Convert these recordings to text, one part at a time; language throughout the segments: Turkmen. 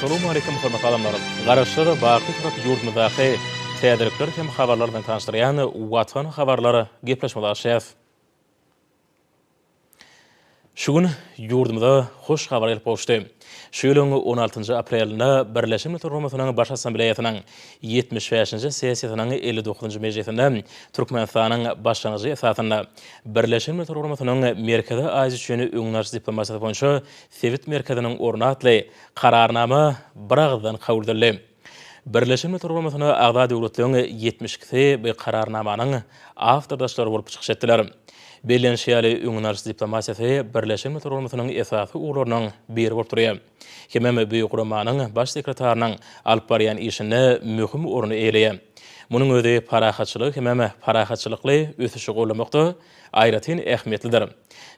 Salowmaleýkim hormatly adamlarym! Garaşsyz, baky Türk ýurdumyzdaky täzelikler hem habarlar bilen tanyşdyrýan Watan habarlar gepleşmesi açýas. Şu gün ýurdumyza hoş habar gelip gowuşdy. Şu ýylyň on altynjy aprelinde Birleşen Milletler Guramasynyň Baş Assambleýasynyň ýetmiş bäşinji sessiýasynyň elli dokuzynjy mejlisinde Türkmenistanyň başlangyjy esasynda Birleşen Milletler Guramasynyň Merkezi Aziýa üçin öňdebaryjy diplomatiýasy boýunça sebit merkeziniň orny atly Kararnama biragyzdan kabul edildi. Birleşen Milletler Guramasyna agza döwletleriň ýetmiş ikisi bu Kararnamanyň awtordaşlary bolup çykyş etdiler. Bellenişi ýaly, öňdenalyş diplomatiýasy Birleşen Milletler Guramasynyň esasy ugurlarynyň biri bolup durýar. Hemem bu guramanyň Baş sekretarynyň alyp barýan işinde möhüm orny eýeleýär. Munuň özi parahatçylygy hemem parahatçylykly ösüşi gollamakda, aýratyn ähmiýetlidir.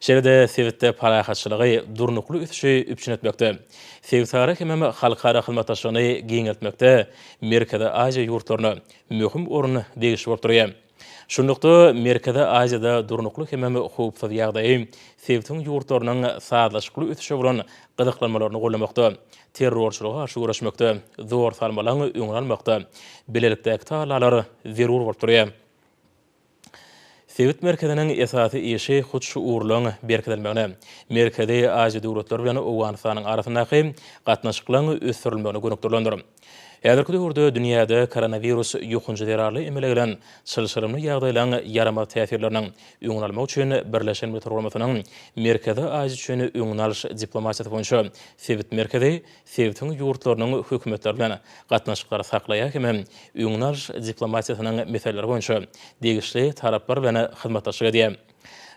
Şeýle-de sebitde parahatçylygy, durnukly ösüşi üpjün etmekde, sebitara hemem halkara hyzmatdaşlygyny giňeltmekde Merkezi Aziýa ýurtlaryna möhüm orun degişli bolup durýar. Şunlukda, Merkezi Aziýada durnukly hemem howpsuz ýagdaýy sebitiň ýurtlarynyň sazlaşykly ösüşe bolan gyzyklanmalaryny goldamakda, terrorçylyga garşy göreşmekde, zor salmalaň öňüni almakda bilelikdäki tagallalar zerur bolup durýar. Sebit merkeziniň esasy işi hut şu ugurlaryň berkidilmegine, Merkezi Aziýa döwletleri bilen Owganystanyň arasyndaky gatnaşyklaryň ösdürilmegine gönükdirilendir. Häzirki döwürde dünýäde koronawirus ýokanjy zerarly emele gelen çylşyrymly ýagdaýlaryň ýaramaz täsirleriniň öňüni almak üçin Birleşen Milletler Guramasynyň Merkezi Aziýa üçin öňüni alyş diplomatiýasy boýunça sebit merkezi sebitiň ýurtlarynyň hökümetleri bilen gatnaşyklary saklaýar hem-de öňüni alyş diplomatiýasynyň meseleleri boýunça degişli taraplar bilen hyzmatdaşlyk edýär.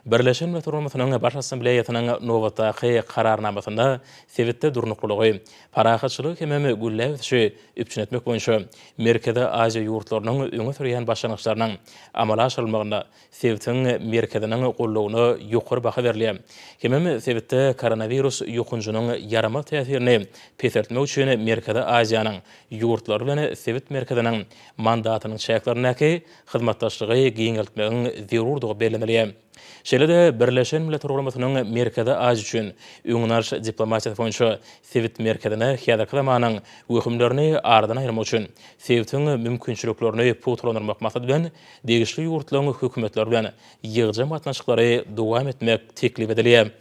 Birleşen Milletler Guramasynyň Baş Assambleýasynyň nobatdaky Kararnamasynda sebitde durnuklylygy, parahatçylygy hem-de gülläp ösüşi üpjün etmek boýunça Merkezi Aziýa ýurtlarynyň öňe sürýän başlangyçlarynyň amala aşyrylmagynda sebitiň merkeziniň goldawyna ýokary baha berilýär. Hemem sebitde koronawirus ýokanjynyň ýaramaz täsirini peseltmek üçin Merkezi Aziýanyň ýurtlary bilen sebit merkeziniň mandatynyň çäklerindäki hyzmatdaşlygy giňeltmegiň zerurdygy bellenilýär. Şeýle-de Birleşen Milletler Guramasynyň Merkezi Aziýa üçin öňüni alyş diplomatiýasy boýunça sebit merkezine häzirki zamanyň wehimlerini aradan aýyrmak üçin sebitiň mümkinçiliklerini pugtalandyrmak maksady bilen degişli ýurtlaryň hökümetleri bilen ýygjam gatnaşyklary dowam etmek teklip edilýär.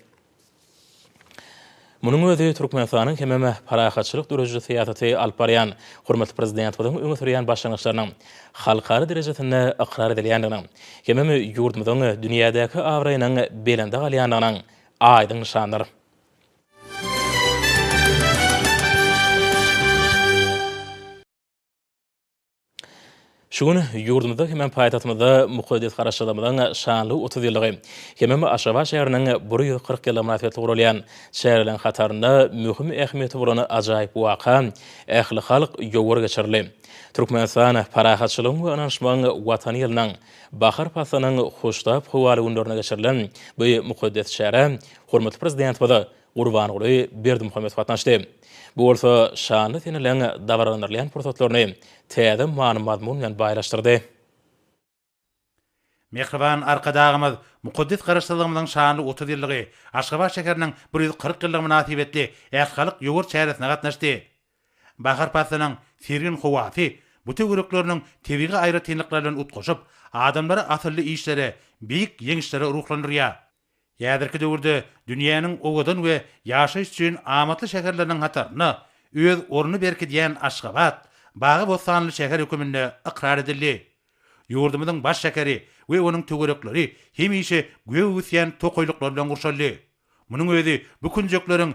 Munuň özi Türkmenistanyň hemem parahatçylyk dörediji syýasaty alyp barýan hormatly Prezidentimiziň öňe sürýän başlangyçlarynyň halkara derejesinde ykrar edilýändiginiň, hemem ýurdumyzyň dünýädäki abraýynyň belende galýandygynyň aýdyň nyşanydyr. Şu gün ýurdumyzda hemem paýtagtymyzda mukaddes Garaşsyzlygymyzyň şanly otuz ýyllygy, hemem Aşgabat şäheriniň bir ýüz kyrk ýyllygy mynasybetli guralýan çäreleriň hatarynda möhüm ähmiýeti bolan ajaýyp waka, ählihalk ýowar geçirildi. Türkmenistan parahatçylygyň we ynanyşmagyň Watany ýylynyň bahar paslynyň hoştap howaly günlerinde geçirilen bu mukaddes çärä hormatly Prezidentimiz Gurbanguly Berdimuhamedow gatnaşdy. Bu bolsa şanly seneleň dabaralandyrylýan pursatlaryny täze many-mazmun bilen baýlaşdyrdy. Mähriban Arkadagymyz mukaddes Garaşsyzlygymyzyň şanly otuz ýyllygy, Aşgabat şäheriniň bir ýüz kyrk ýyllygy mynasybetli ählihalk ýowar çäresine gatnaşdy. Bahar paslynyň sergin howasy bu töwerekleriniň tebigy aýratynlyklary bilen utgaşyp, adamlary asylly işlere, beýik ýeňişlere ruhlandyrýar. Häzirki döwürde dünýäniň owadan we ýaşaýyş üçin amatly şäherleriniň hatarynda öz ornuny berkidýän Aşgabat bagy-bossanly şäher höküminde ykrar edildi. Ýurdumyzyň baş şäheri we onuň töwerekleri hemişe gök ösýän tokaýlyklar bilen gurşaldy. Munuň özi bu künjekleriň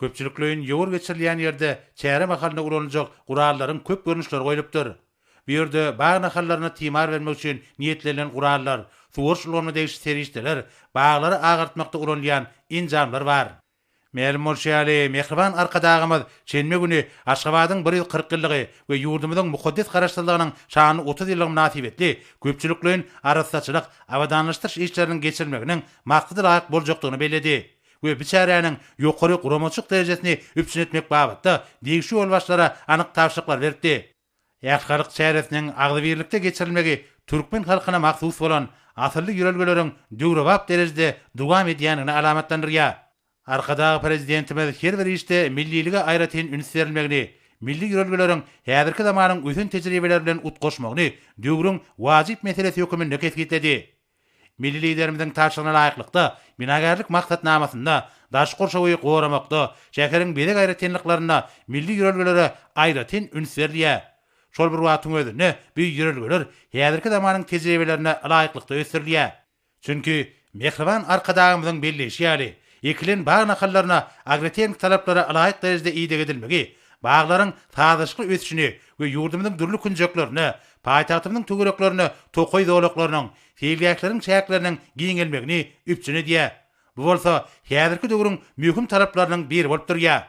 Köpçülikleýin ýowar geçirilýän ýerde çäre mahalynda ulanyljak gurallaryň köp görnüşleri goýlupdyr. Bu ýerde bag nahallaryna timar bermek üçin niýetlenilen gurallar, suwaryş ulgamyna degişli serişdeler, baglary agartmakda ulanylýan enjamlar bar. Mälim bolşy ýaly, mähriban Arkadagymyz şenbe güni Aşgabadyň bir ýüz kyrk ýyllygy we ýurdumyzyň mukaddes Garaşsyzlygynyň şanly otuz ýyllygy mynasybetli köpçülikleýin arassaçylyk, abadanlaşdyryş işleriniň geçirilmeginiň maksadalaýyk boljakdygyny belledi we bu çäräniň ýokary guramaçylyk derejesini üpjün etmek babatda degişli ýolbaşçylara anyk tabşyryklar beripdi. Äşgaryk çäresiniň agzybirlikde geçirilmegi türkmen halkyna mahsus bolan asylly ýörelgeleriň döwrebap derejede dowam edýändigini alamatlandyrýar. Arkadag Prezidentimiz her bir işde millilige aýratyn üns berilmegini, milli ýörelgeleriň häzirki zamanyň ösen tejribeleri bilen utgaşmagyny döwrüň wajyp meselesi höküminde kesgitledi. Milli Liderimiziň tabşyrygyna laýyklykda, binagärlik maksatnamasynda daş gurşawy goramakda, şäheriň bezeg aýratynlyklarynda milli ýörelgelere aýratyn üns berilýär. Şol bir wagtyň özünde bu ýörelgeler häzirki zamanyň tejribelerine laýyklykda ösdürilýär. Çünki, mähriban Arkadagymyzyň belleýşi ýaly, ekilen bag nahallaryna agrotehniki talaplara laýyk derejede ideg edilmegi baglaryň sazlaşykly ösüşini we ýurdumyzyň dürli künjeklerine, paýtagtymyzyň töwereklerine tokaý zolaklarynyň, seýilgähleriň çäkleriniň giňelmegini üpjün edýär. Bu bolsa häzirki döwrüň möhüm talaplarynyň biri bolup durýar.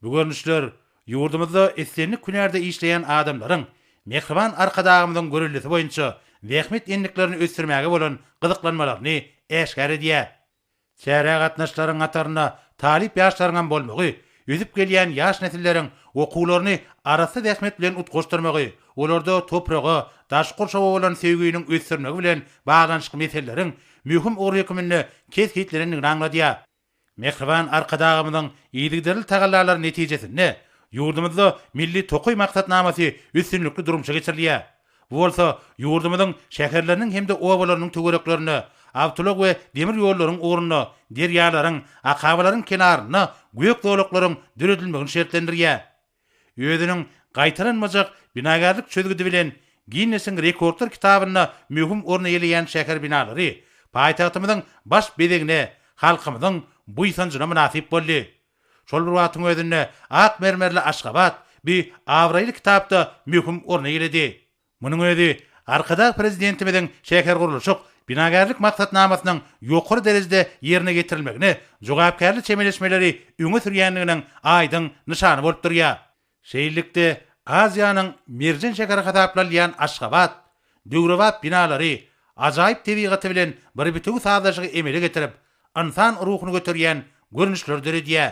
Bu görnüşler ýurdumyzda islendik hünärde işleýän adamlaryň mähriban Arkadagymyzyň göreldesi boýunça zähmet endiklerini ösdürmäge bolan gyzyklanmalaryny äşgär edýär. Çärä gatnaşyjylaryň hatarynda talyp ýaşlaryňam bolmagy, ösüp gelýän ýaş nesilleriň okuwlaryny arassa zähmet bilen utgaşdyrmagy, olarda topraga, daşky gurşawa bolan söýginiň ösdürilmegi bilen baglanyşykly meseleleriň möhüm ugry höküminde kesgitlenendigini aňladýar. Mähriban Arkadagymyzyň yzygiderli tagallalary netijesinde ýurdumyzda Milli tokaý maksatnamasy üstünlikli durmuşa geçirilýär. Bu bolsa ýurdumyzyň şäherleriniň hem-de obalarynyň töwereklerinde, awtoulag we demir ýollaryň ugrunda, derýalaryň, akabalaryň kenarynda gök zolaklaryň döredilmegini şertlendirýär. Özüniň gaýtalanmajak binagärlik çözgüdi bilen Ginnesiň rekordlar kitabynda möhüm orun eýeleýän şäher binalary paýtagtymyzyň baş bezegine, halkymyzyň buýsanjyna mynasyp boldy. Şol bir wagtyň özünde ak mermerli Aşgabat bi abraýly kitapda möhüm orun eýeledi. Munuň özi Arkadag Prezidentimiziň şähergurluşyk, binagärlik maksatnamasynyň ýokary derejede ýerine ýetirilmegine jogapkärli çemeleşmeleri öňe sürýändiginiň aýdyň nyşany bolup durýar. Şeýlelikde, Aziýanyň merjen şäheri hasaplanylýan Aşgabat, döwrebap binalary, ajaýyp tebigaty bilen bir bitewi sazlaşygy emele getirip, ynsan ruhuny göterýän görnüşleri döredýär.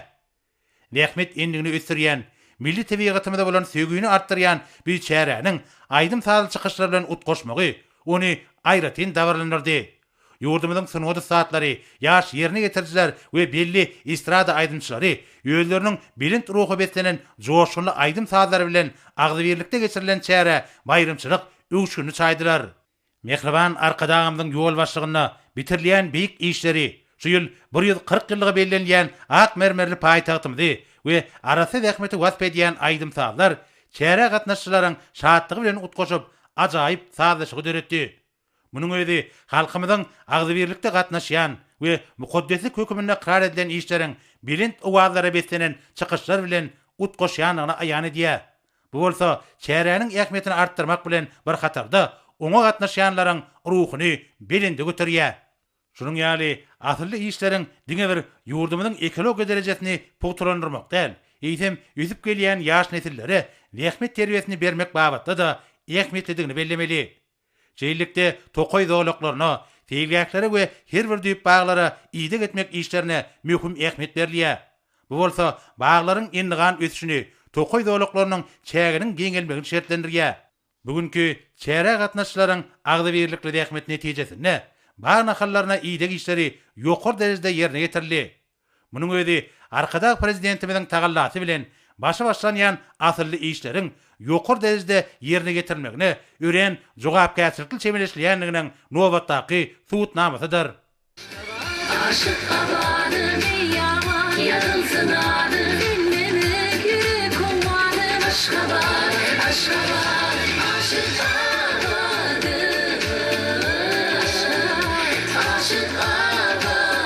Zähmet endigini ösdürýän, milli tebigatymyza bolan söýgini artdyrýan biçäräniň aýdym-sazly çykyşlar bilen utgaşmagy ony aýratyn dabaralandyrdy, Ýurdumyzyň sungat ussatlary, ýaş ýerine ýetirijiler we belli estrada aýdymçylary özleriniň belent ruha beslenen joşgunly aýdym-sazlary bilen agzybirlikde geçirilen çärä baýramçylyk öwüşginini çaýdylar. Mähriban Arkadagymyzyň ýolbaşçylygynda bitirilýän beýik işleri, şu ýyl bir ýüz kyrk ýyllygy bellenilýän ak mermerli paýtagtymyzy we arassa zähmeti wasp edýän aýdym-sazlar çärä gatnaşyjylaryň şatlygy bilen utgaşyp, ajaýyp sazlaşygy döretdi. Munuň özi halkymyzyň agzybirlikde gatnaşýan we mukaddeslik hökümini ykrar edilen işleriň belent owazlara beslenen çykyşlar bilen utgaşýandygyny aýan edýär. Bu bolsa çäräniň ähmiýetini artdyrmak bilen bir hatarda, oňa gatnaşýanlaryň ruhuny belende göterýär. Şunuň ýaly asylly işleriň diňe bir ýurdumyzyň ekologiýa derejesini pugtalandyrmak däl, eýsem, ösüp gelýän ýaş nesillere zähmet terbiýesini bermek babatda-da ähmiýetlidigini bellemeli. Şeýlelikde, tokaý zolaklaryna, seýilgählere we her bir düýp baglara ideg etmek işlerine möhüm ähmiýet berilýär. Bu bolsa baglaryň endigan ösüşini, tokaý zolaklarynyň çäginiň giňelmegini şertlendirýär. Bu günki çärä gatnaşyjylaryň agzybirlikli zähmeti netijesinde bag nahallaryna ideg işleri ýokary derejede ýerine ýetirildi. Munuň özi Arkadag Prezidentimiziň tagallasy bilen başy başlanýan asylly işleriň ýokary derejede ýerine getirilmegine örän jogapkärçilikli çemeleşilýändiginiň nobatdaky subutnamasydyr.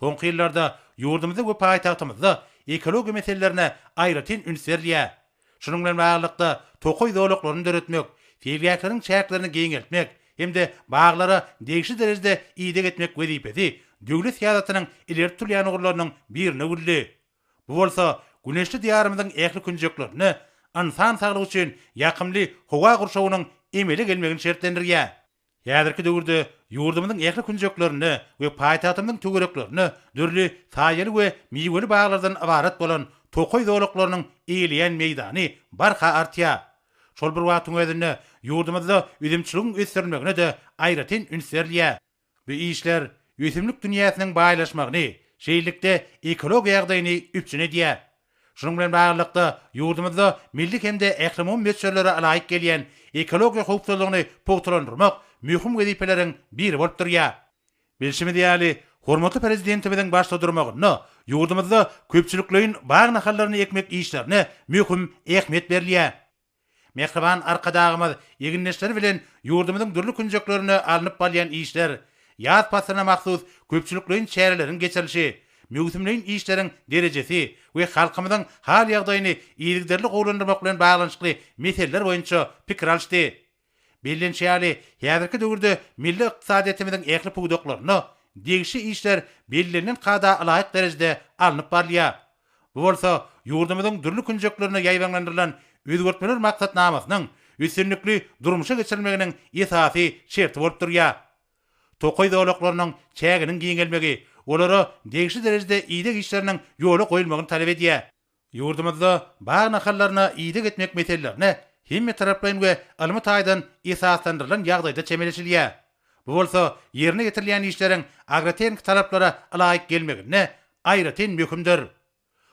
Soňky ýyllarda ýurdumyzda we paýtagtymyzda ekologiýa meselelerine aýratyn üns berilýär. Şunuň bilen baglylykda, tokaý zolaklaryny döretmek, seýilgähleriň çäklerini giňeltmek hem-de baglara degişli derejede ideg etmek wezipesi döwlet syýasatynyň ileri tutulýan ugurlarynyň birine öwrüldi. Bu bolsa güneşli Diýarymyzyň ähli künjeklerinde ynsan saglygy üçin ýakymly howa gurşawynyň emele gelmegini şertlendirýär. Häzirki döwürde ýurdumyzyň ähli künjeklerinde we paýtagtymyzyň töwereklerinde dürli saýaly we miweli baglardan ybarat bolan tokaý zolaklarynyň eýeleýän meýdany barha artýar. Şol bir wagtyň özünde ýurdumyzda üzümçiligiň ösdürilmegine-de aýratyn üns berilýär. Bu işler ösümlik dünýäsiniň baýlaşmagyny, şeýlelikde ekologiýa ýagdaýyny üpjün edýär. Şunuň bilen baglylykda, ýurdumyzda milli hem-de ählumumy möçberlere laýyk gelýän ekologiýa howpsuzlygyny pugtalandyrmak möhüm wezipeleriň biri bolup durýar. Bilşimiz ýaly, hormatly Prezidentimiziň başda durmagynda ýurdumyzda köpçülikleýin bag nahallaryny ekmek işlerine möhüm ähmiýet berilýär. Mähriban Arkadagymyz egindeşleri bilen ýurdumyzyň dürli künjeklerinde alnyp barylýan işler, ýaz paslyna mahsus köpçülikleýin çäreleriň geçirilişi, möwsümleýin işleriň derejesi we halkymyzyň hal-ýagdaýyny yzygiderli gowulandyrmak bilen baglanyşykly meseleler boýunça pikir alyşdy. Bellenişi ýaly, häzirki döwürde milli ykdysadyýetimiziň ähli pudaklarynda degişli işler bellenilen kada laýyk derejede alnyp barylýar. Bu bolsa ýurdumyzyň dürli künjeklerinde ýaýbaňlandyrylan özgertmeler maksatnamasynyň üstünlikli durmuşa geçirilmeginiň esasy şerti bolup durýar. Tokaý zolaklarynyň çäginiň giňelmegi olara degişli derejede ideg işleriniň ýola goýulmagyny talap edýär. Ýurdumyzda bag nahallaryna ideg etmek meselelerine hemmetaraplaýyn we ylmy taýdan esaslandyrylan ýagdaýda çemeleşilýär. Bu bolsa ýerine ýetirilýän işleriň agrotehniki talaplara ylaýyk gelmeginde aýratyn möhümdir.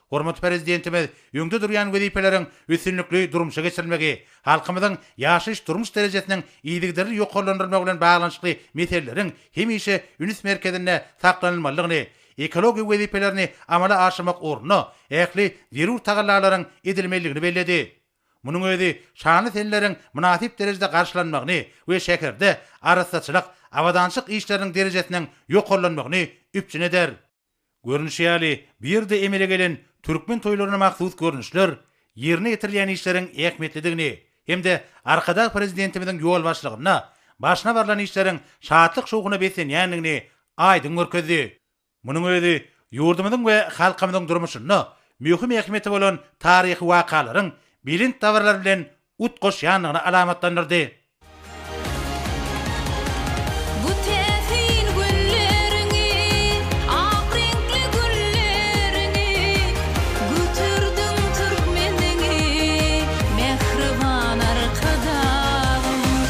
Hormatly Prezidentimiz öňde durýan wezipeleriň üstünlikli durmuşa geçirilmegi, halkymyzyň ýaşaýyş-durmuş derejesiniň yzygiderli ýokarlandyrylmagy bilen baglanyşykly meseleleriň hemişe üns merkezinde saklanylmalydygyny ekologiýa wezipelerini amala aşyrmak ugrunda ähli zerur tagallalaryň edilmelidigini belledi. Munuň özi şanly seneleriň mynasyp derejede garşylanmagyny we şäherde arassaçylyk, abadançylyk işleriniň derejesiniň ýokarlanmagyny üpjün eder. Görnüşi ýaly, bu ýerde emele gelen türkmen toýlaryna mahsus görnüşler ýerine ýetirilýän işleriň ähmiýetlidigini hem-de Arkadag Prezidentimiziň ýolbaşçylygynda başyna barlan işleriň şatlyk-şowhuna beslenýändigini aýdyň görkezdi. Munuň özi ýurdumyzyň we halkymyzyň durmuşynda möhüm ähmiýeti bolan taryhy wakalaryň belent dabaralar bilen utgaşýandygyny alamatlandyrdy. Bu täsin günleriňi, ak reňkli gülleriňi, Göterdiň türkmeniňi, mähriban Arkadagym.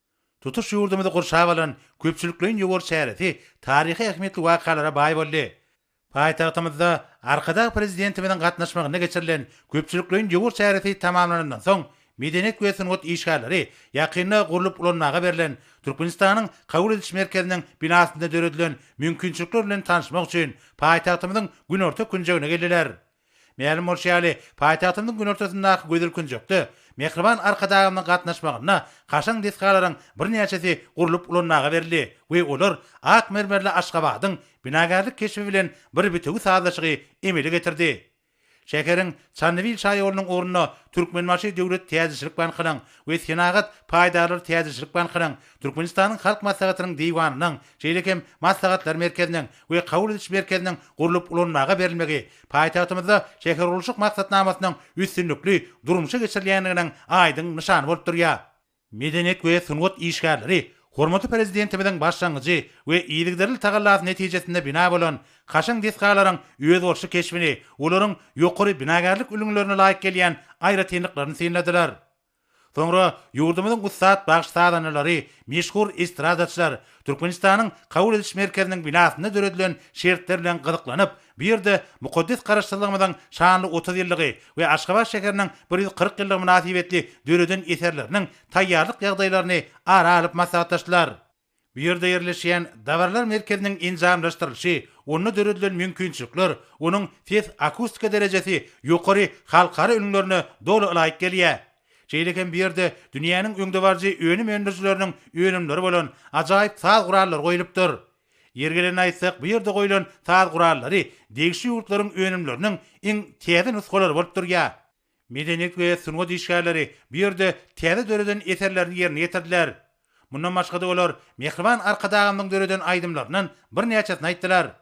Tutuş ýurdumyzy gurşap alan köpçülikleýin ýowar çäresi taryhy ähmiýetli wakalara baý boldy. Paýtagtymyzda Arkadag Prezidentimiziň gatnaşmagynda geçirilen köpçülikleýin ýowar çäresi tamamlanandan soň, medeniýet we sungat işgärleri ýakynda gurlup ulanmaga berlen Türkmenistanyň kabul ediş merkeziniň binasynda döredilen mümkinçilikler bilen tanyşmak üçin paýtagtymyzyň günorta künjegine geldiler. Mälim bolşy ýaly, paýtagtymyzyň günortasyndaky gözel künjekde Mähriban Arkadagymyzyň gatnaşmagynda kaşaň desgalaryň birnäçesi gurlup ulanmaga berildi we olar ak mermerli Aşgabadyň binagärlik keşbi bilen bir bitewi sazlaşygy emele getirdi. Şäheriň Çandybil şaýolunyň ugrunda Türkmenbaşy döwlet täjirçilik bankynyň we Senagat paýdarlar täjirçilik bankynyň, Türkmenistanyň Halk Maslahatynyň Diwanynyň, şeýle hem Maslahatlar merkeziniň we kabul ediş merkeziniň gurlup ulanmaga berilmegi paýtagtymyzda şähergurluşyk maksatnamasynyň üstünlikli durmuşa geçirilýändiginiň aýdyň nyşany bolup durýar. Medeniýet we sungat işgärleri hormatly Prezidentimiziň başlangyjy we yzygiderli tagallasy netijesinde bina bolan kaşaň desgalaryň özboluşly keşbini, olaryň ýokary binagärlik ülňülerine laýyk gelýän aýratynlyklaryny synladylar. Soňra ýurdumyzyň ussat bagşy-sazandalary, meşhur estradaçylar Türkmenistanyň Kabul ediş merkeziniň binasynda döredilen şertler bilen gyzyklanyp, bu ýerde mukaddes Garaşsyzlygymyzyň şanly otuz ýyllygy we Aşgabat şäheriniň bir ýüz kyrk ýyllygy mynasybetli döreden eserleriniň taýýarlyk ýagdaýlaryny ara alyp maslahatlaşdylar. Bu ýerde ýerleşýän Dabarlar merkeziniň enjamlaşdyrylyşy, onda döredilen mümkinçilikler, onuň ses-akustika derejesi ýokary halkara ülňülerine doly ylaýyk gelýär. Şeýle hem bu ýerde dünýäniň öňdebaryjy önüm öndürijileriniň önümleri bolan ajaýyp saz gurallary goýlupdyr. Ýeri gelende aýtsak, bu ýerde goýlan saz gurallary degişli ýurtlaryň önümleriniň iň täze nusgalary bolup durýar. Medeniýet we sungat işgärleri bu ýerde täze döreden eserlerini ýerine ýetirdiler. Mundan başga-da olar Mähriban Arkadagymyzyň döreden aýdymlaryndan birnäçesini aýtdylar.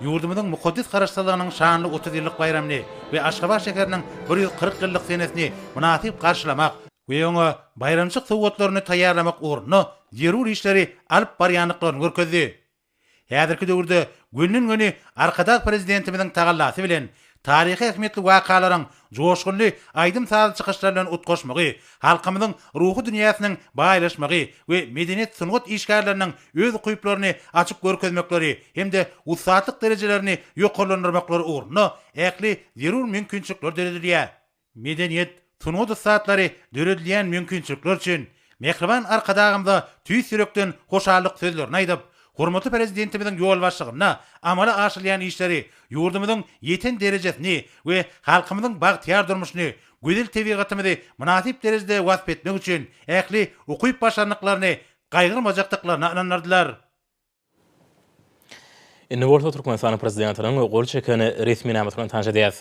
Ýurdumyzyň mukaddes Garaşsyzlygynyň şanly otuz ýyllyk baýramyny we Aşgabat şäheriniň bir ýüz kyrk ýyllyk senesini mynasyp garşylamak we oňa baýramçylyk sowgatlaryny taýýarlamak ugrunda zerur işleri alyp barýandyklaryny görkezdi. Häzirki döwürde gönden-göni Arkadag Prezidentimiziň tagallasy bilen Taryhy ähmiýetli wakalaryň joşgunly aýdym-sazly çykyşlar bilen utgaşmagy, halkymyzyň ruhy dünýäsiniň baýlaşmagy we medeniýet-sungat işgärleriniň öz ukyplaryny açyp görkezmekleri hem-de ussatlyk derejelerini ýokarlandyrmaklary ugrunda ähli zerur mümkinçilikler döredilýär. Medeniýet, sungat ussatlary döredilýän mümkinçilikler üçin mähriban Arkadagymyza tüýs ýürekden hoşallyk sözlerini aýdyp, hormatly Prezidentimiziň ýolbaşçylygynda amala aşyrylýan işleri ýurdumyzyň ýeten derejesini we halkymyzyň bagtyýar durmuşyny, gözel tebigatymyzy mynasyp derejede wasp etmek üçin ähli ukyp-başarnyklaryny gaýgyrmajakdyklaryna ynandyrdylar. Indi bolsa Türkmenistanyň prezidentiniň gol çeken resminamasyny bilen tanyş edýäris.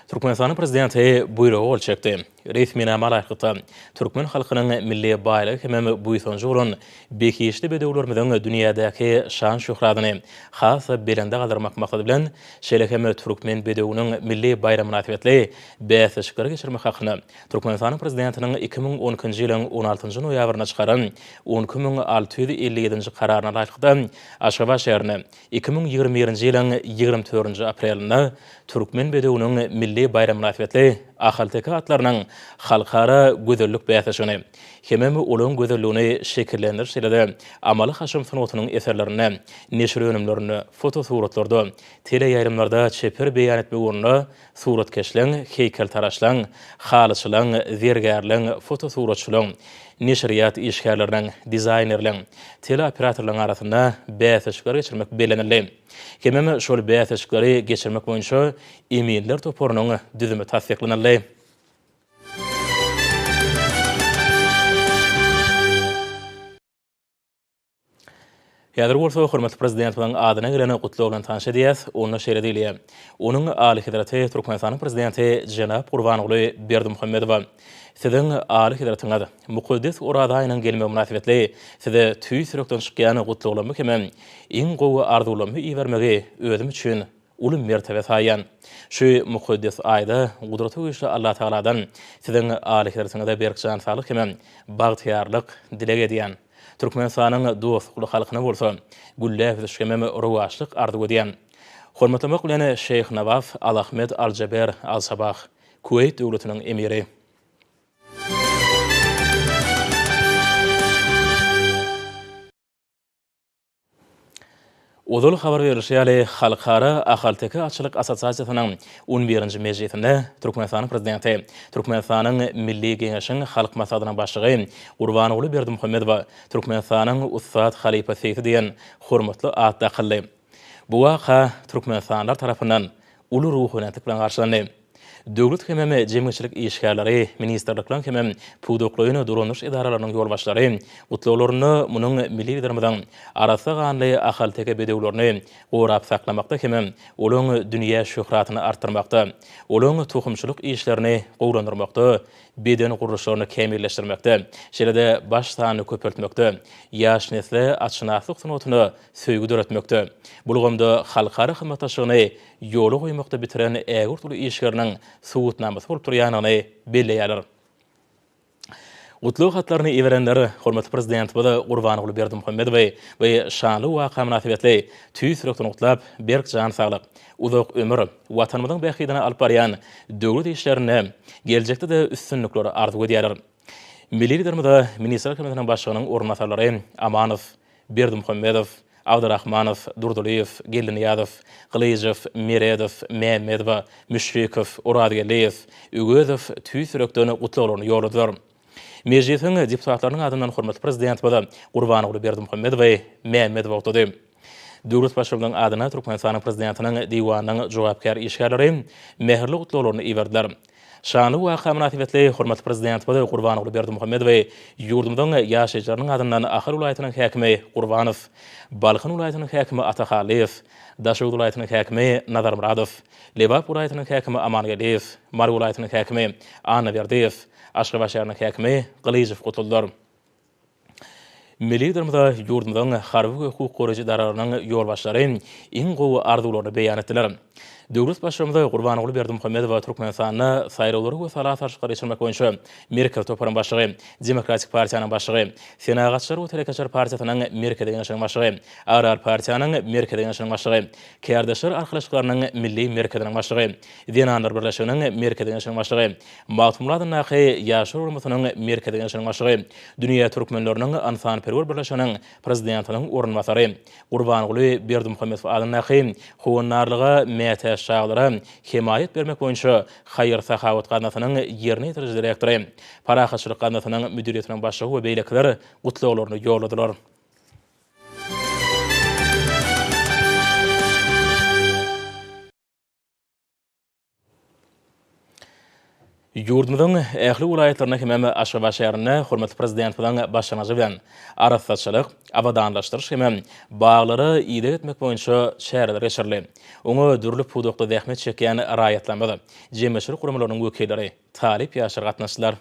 Türkmenistanyň prezidenti buýruga gol çekdi. Resminama laýyklykda, türkmen halkynyň milli baýlygy hemem buýsanjy bolan behişdi bedewlerimiziň dünýädäki şan-şöhratyny has-da belende galdyrmak maksady bilen, şeýle hem Türkmen bedewiniň milli baýramy mynasybetli bäsleşikleri geçirmek hakynda Türkmenistanyň Prezidentiniň iki müň on ikinji ýylyň on altynjy noýabrynda çykaran on iki müň alty ýüz elli ýedinji Kararyna laýyklykda, Aşgabat şäherine iki müň ýigrimi birinji ýylyň ýigrimi dördünji aprelinde Türkmen bedewiniň milli baýramy mynasybetli ahalteke atlarynyň halkara gözellik bäsleşigini hemem olaryň gözelligini şekillendiriş şeýle-de amaly-haşam sungatynyň eserlerinde, neşir önümlerinde, fotosuratlarda, teleýaýlymlarda çeper beýan etmek ugrunda Suratkeşligiň, heýkeltaraşlygyň, halyçylygyň, zergärligiň, fotosuratçylygyň, neşirýat işgärleriniň, dizaýnerligiň, teleoperatorlygyň arasynda bäsleşikleri geçirmek bellenildi. Hemem şol bäsleşikleri geçirmek boýunça eminler toparynyň düzümi tassyklanyldy. Häzir bolsa hormatly Prezidentimiziň adyna gelen Gutlag bilen tanyş edýäs. Onda şeýle diýilýär, Onuň Alyhezreti Türkmenistanyň Prezidenti jenap Gurbanguly Berdimuhamedowa Siziň Alyhezretiňiz mukaddes Oraza aýynyň gelmegi mynasybetli Size tüýs ýürekden çykýan gutlaglarymy hem-ä iň gowy arzuwlarymy ibermegi özüm üçin uly mertebe saýýan. Şu mukaddes aýda Gudraty Güýçli Allatagaladan Siziň Alyhezretiňize berk jan saglyk hem-ä bagtyýarlyk dileg edýän. Türkmenistanyň dostlukly halkyna bolsa gülläp ösüş hem-ä rowaçlyk arzuw edýän. Hormatlamak bilen Şeýh Nawaf Alahmed Aljaber Alsabah, Kuweýt Döwletiniň Emiri. Ozal habar berlişi ýaly, Halkara ahalteke atçylyk assosiasiýasynyň on birinji mejlisinde Türkmenistanyň Prezidenti, Türkmenistanyň Milli Geňeşiň Halk Maslahatynyň Başlygy Gurbanguly Berdimuhamedowa Türkmenistanyň ussat halypasysi diýen hormatly at dakyldy. Bu waka türkmenistanlylar tarapyndan uly ruhubelentlik bilen garşylandy. Döwlet hemem jemgyýetçilik işgärleri, ministrlikleriň hemem pudaklaýyn dolanyş edaralarynyň ýolbaşçylary gutlaglarynda munuň milli Liderimiziň arassa ganly ahalteke bedewlerini gorap saklamakda hemem olaryň dünýä şöhratyny artdyrmakda, olaryň tohumçylyk işlerini gowulandyrmakda, beden gurluşlaryny kämilleşdirmekde, şeýle-de baş sanyny köpeltmekde, ýaş nesle atşynaslyk sungatyny söýgi döretmekde, bu ulgamda halkara hyzmatdaşlygyny ýola goýmakda bitiren ägirt uly işleriniň subutnamasy bolup durýandygyny belleýärler. Gutlag hatlaryny iberenler hormatly Prezidentimiz Gurbanguly Berdimuhamedowy bu şanly waka mynasybetli tüýs ýürekden gutlap, berk jan saglyk, uzak ömür, Watanymyzyň bähbidine alyp barýan döwlet işlerinde geljekde-de üstünlikler arzuw edýärler. Milli Liderimize Ministrler Kabinetiniň Başlygynyň orunbasarlary Amanow, Berdimuhamedow, Abdyrahmanow, Durdylyýew, Geldinyýazow, Gylyjow, Meredow, Mämmedowa, Müşfikow, Orazgeldiýew, Öwezow tüýs ýürekden gutlaglaryny ýolladylar. Mejlisiň deputatlarynyň adyndan hormatly Prezidentimiz Gurbanguly Berdimuhamedowy Mämmedow agtlady. Döwlet Baştutanynyň adyna Türkmenistanyň Prezidentiniň Diwanynyň jogapkär işgärleri mähirli gutlaglaryny iberdiler. Şanly waka mynasybetli hormatly Prezidentimiz Gurbanguly Berdimuhamedowy ýurdumyzyň ýaşaýjylarynyň adyndan Ahal welaýatynyň häkimi Gurbanow, Balkan welaýatynyň häkimi Atahallyýew, Daşoguz welaýatynyň häkimi Nazarmyradow, Lebap welaýatynyň häkimi Amangeldiýew, Mary welaýatynyň häkimi Annaberdiýew, Aşgabat şäheriniň häkimi Gylyjow gutladylar. Milli Liderimize ýurdumyzyň harby we hukuk goraýjy edaralarynyň ýolbaşçylary iň gowy arzuwlaryny beýan etdiler. Döwlet Baştutanymy Gurbanguly Berdimuhamedowa Türkmenistanda saýlawlary we sala salşyklary geçirmek boýunça Merkezi toparyň başlygy, Demokratik partiýanyň başlygy, Senagatçylar we telekeçiler partiýasynyň Merkezi Geňeşiniň başlygy, Agrar partiýanyň Merkezi Geňeşiniň başlygy, Kärdeşler arkalaşyklarynyň Milli merkeziniň başlygy, Zenanlar birleşiginiň Merkezi Geňeşiniň başlygy, Magtymguly adyndaky Ýaşlar guramasynyň Merkezi Geňeşiniň başlygy, Dünýä türkmenleriniň ynsanperwer birleşiginiň prezidentiniň orunbasary, Gurbanguly Berdimuhamedow adyndaky Howandarlyga mätäç çagalara hemaýat bermek boýunça haýyr-sahawat gaznasynyň ýerine ýetiriji direktory, Parahatçylyk gaznasynyň müdiriýetiniň başlygy we beýlekiler gutlaglaryny ýolladylar. Ýurdumyzyň ähli welaýatlarynda hemem Aşgabat şäherinde hormatly Prezidentimiziň başlangyjy bilen arassaçylyk, abadanlaşdyryş hemem baglary ideg etmek boýunça çäreler geçirildi. Oňa dürli pudakda zähmet çekýän raýatlarymyz, jemgyýetçilik guramalarynyň wekilleri, talyp ýaşlar gatnaşdylar.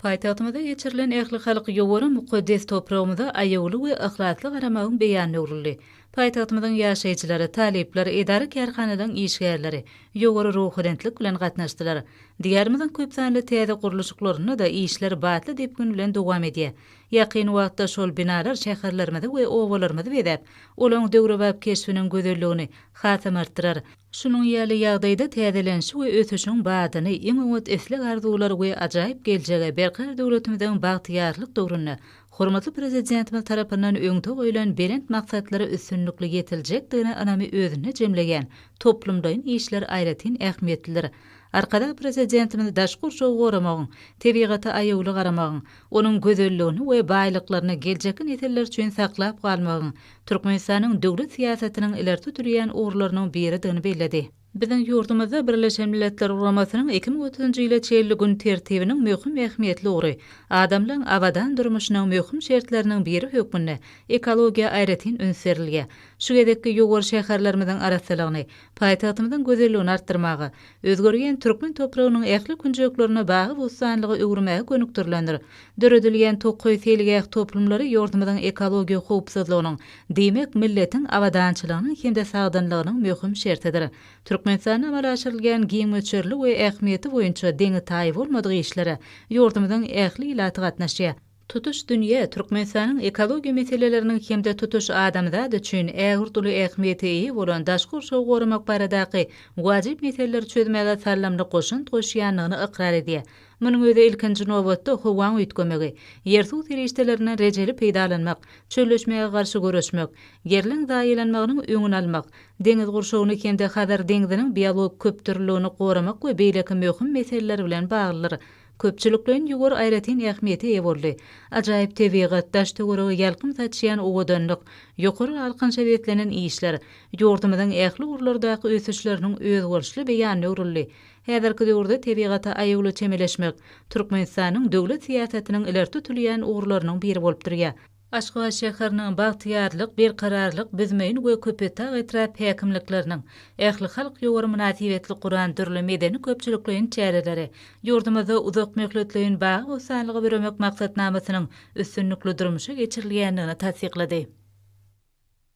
Paýtagtymyzda geçirilen ählihalk ýowara mukaddes topragymyza aýawly we yhlasly garamagyň beýanyna öwrüldi. Paýtagtymyzyň ýaşaýjylary, talyplar, edara-kärhanalaryň işgärleri ýowary ruhubelentlik bilen gatnaşdylar. Diýarymyzyň köp sanly täze gurluşyklarynda-da işler batly depgin bilen dowam edýär. Ýakyn wagtda şol binalar şäherlerimizi we obalarymyzy bezäp, olaryň döwrebap keşbiniň gözelligini hasam artdyrar. Şunuň ýaly ýagdaýda täzelenişi we ösüşiň badyny, iň oňat isleg-arzuwlary we ajaýyp geljegi, berkarar döwletimiziň bagtyýarlyk döwründe hormatly Prezidentimiz tarapyndan öňde goýlan belent maksatlara üstünlikli ýetiljekdigine ynamy özünde jemleýän toplumlaýyn işler aýratyn ähmiýetlidir. Arkadag Prezidentimiz daşky gurşawy goramagyň, tebigata aýawly garamagyň, onuň gözelligini we baýlyklaryny geljekki nesiller üçin saklap galmagyň Türkmenistanyň döwlet syýasatynyň ileri tutulýan ugurlarynyň biridigini belledi. Biziň ýurdumyzda Birleşen Milletler Guramasynyň iki müň otuzynjy ýyla çenli gün tertibiniň möhüm ähmiýetli ugry, adamlaryň abadan durmuşynyň möhüm şertleriniň biri hökmünde ekologiýa aýratyn üns berilýär. Şu gezekki ýowar şäherlerimiziň arassalygyny, Paýtagtymyzyň gözelligini artdyrmaga, özgerýän türkmen topragynyň ähli künjeklerini bagy-bossanlyga öwürmäge gönükdirilendir. Döredilýän tokaý seýilgäh toplumlary ýurdumyzyň ekologiýa howpsuzlygynyň, diýmek, milletiň abadançylygynyň hem-de sagdynlygynyň möhüm şertidir. Türkmenistanda amala aşyrylýan giň möçberli we ähmiýeti boýunça deňi-taýy bolmadyk işlere ýurdumyzyň ähli ilaty gatnaşýar. Tutuş dünýä, Türkmenistanyň ekologiýa meseleleriniň hem-de tutuş adamzat üçin ägirt uly ähmiýete eýe bolan daşky gurşawy goramak baradaky wajyp meseleleri çözmäge saldamly goşant goşýandygyny ykrar edýär. Munuň özi ilkinji nobatda howaň üýtgemegi, ýer-suw serişdelerinden rejeli peýdalanmak, çölleşmäge garşy göreşmek, ýerleň zaýalanmagynyň öňüni almak, deňiz gurşawyny hem-de Hazar deňziniň biologik köpdürlüligini goramak we beýleki möhüm meseleler bilen baglydyr. Köpçülikleýin ýüwür aýratyn ähmiýete eýe boldy. Ajaýyp tebigat, daş-töwerege ýalkym saçýan owadanlyk, ýokary alkynça beslenen işler, ýurdumyzyň ähli ugurlardaky ösüşleriniň özboluşly beýanyna öwrüldi. Häzirki döwürde tebigata aýawly çemeleşmek Türkmenistanyň döwlet syýasatynyň ileri tutulýan ugurlarynyň biri bolup durýar. Aşgabat şäheriniň Bagtyýarlyk, Berkararlyk, Büzmeýin we Köpetdag etrap häkimlikleriniň ählihalk ýowary mynasybetli guran dürli medeni-köpçülikleýin çäreleri ýurdumyzda uzakmöhletleýin bagy-bossanlygy büremek maksatnamasynyň üstünlikli durmuşa geçirilýändigini tassyklady.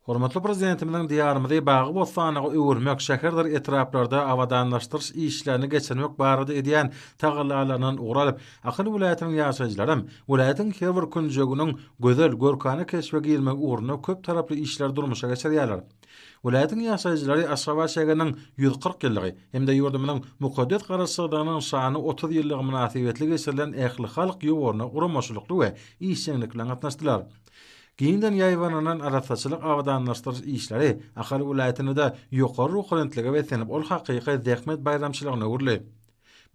Hormatly Prezidentimiziň Diýarymyzy bagy-bossanlyga öwürmek, şäherdir etraplarda abadanlaşdyryş işlerini geçirmek barada edýän tagallalaryndan ugur alyp, Ahal welaýatynyň ýaşaýjylaram welaýatyň her bir künjeginiň gözel, görkana keşbe girmegi ugrunda köp taraply işleri durmuşa geçirýärler. Welaýatyň ýaşaýjylary Aşgabat şägeriniň ýüz kyrk ýyllygy hem-de ýurdumyzyň mukaddes Garaşsyzlygynyň şanly otuz ýyllygy mynasybetli geçirilen ählihalk ýowaryna guramaçylykly we işjeňlik bilen gatnaşdylar. Giňden ýaýbananan arassaçylyk abadanlaşdyryş işleri Ahal welaýatynda-da ýokary ruhubelentlige beslenip, ol hakyky zähmet baýramçylygyna öwrüldi.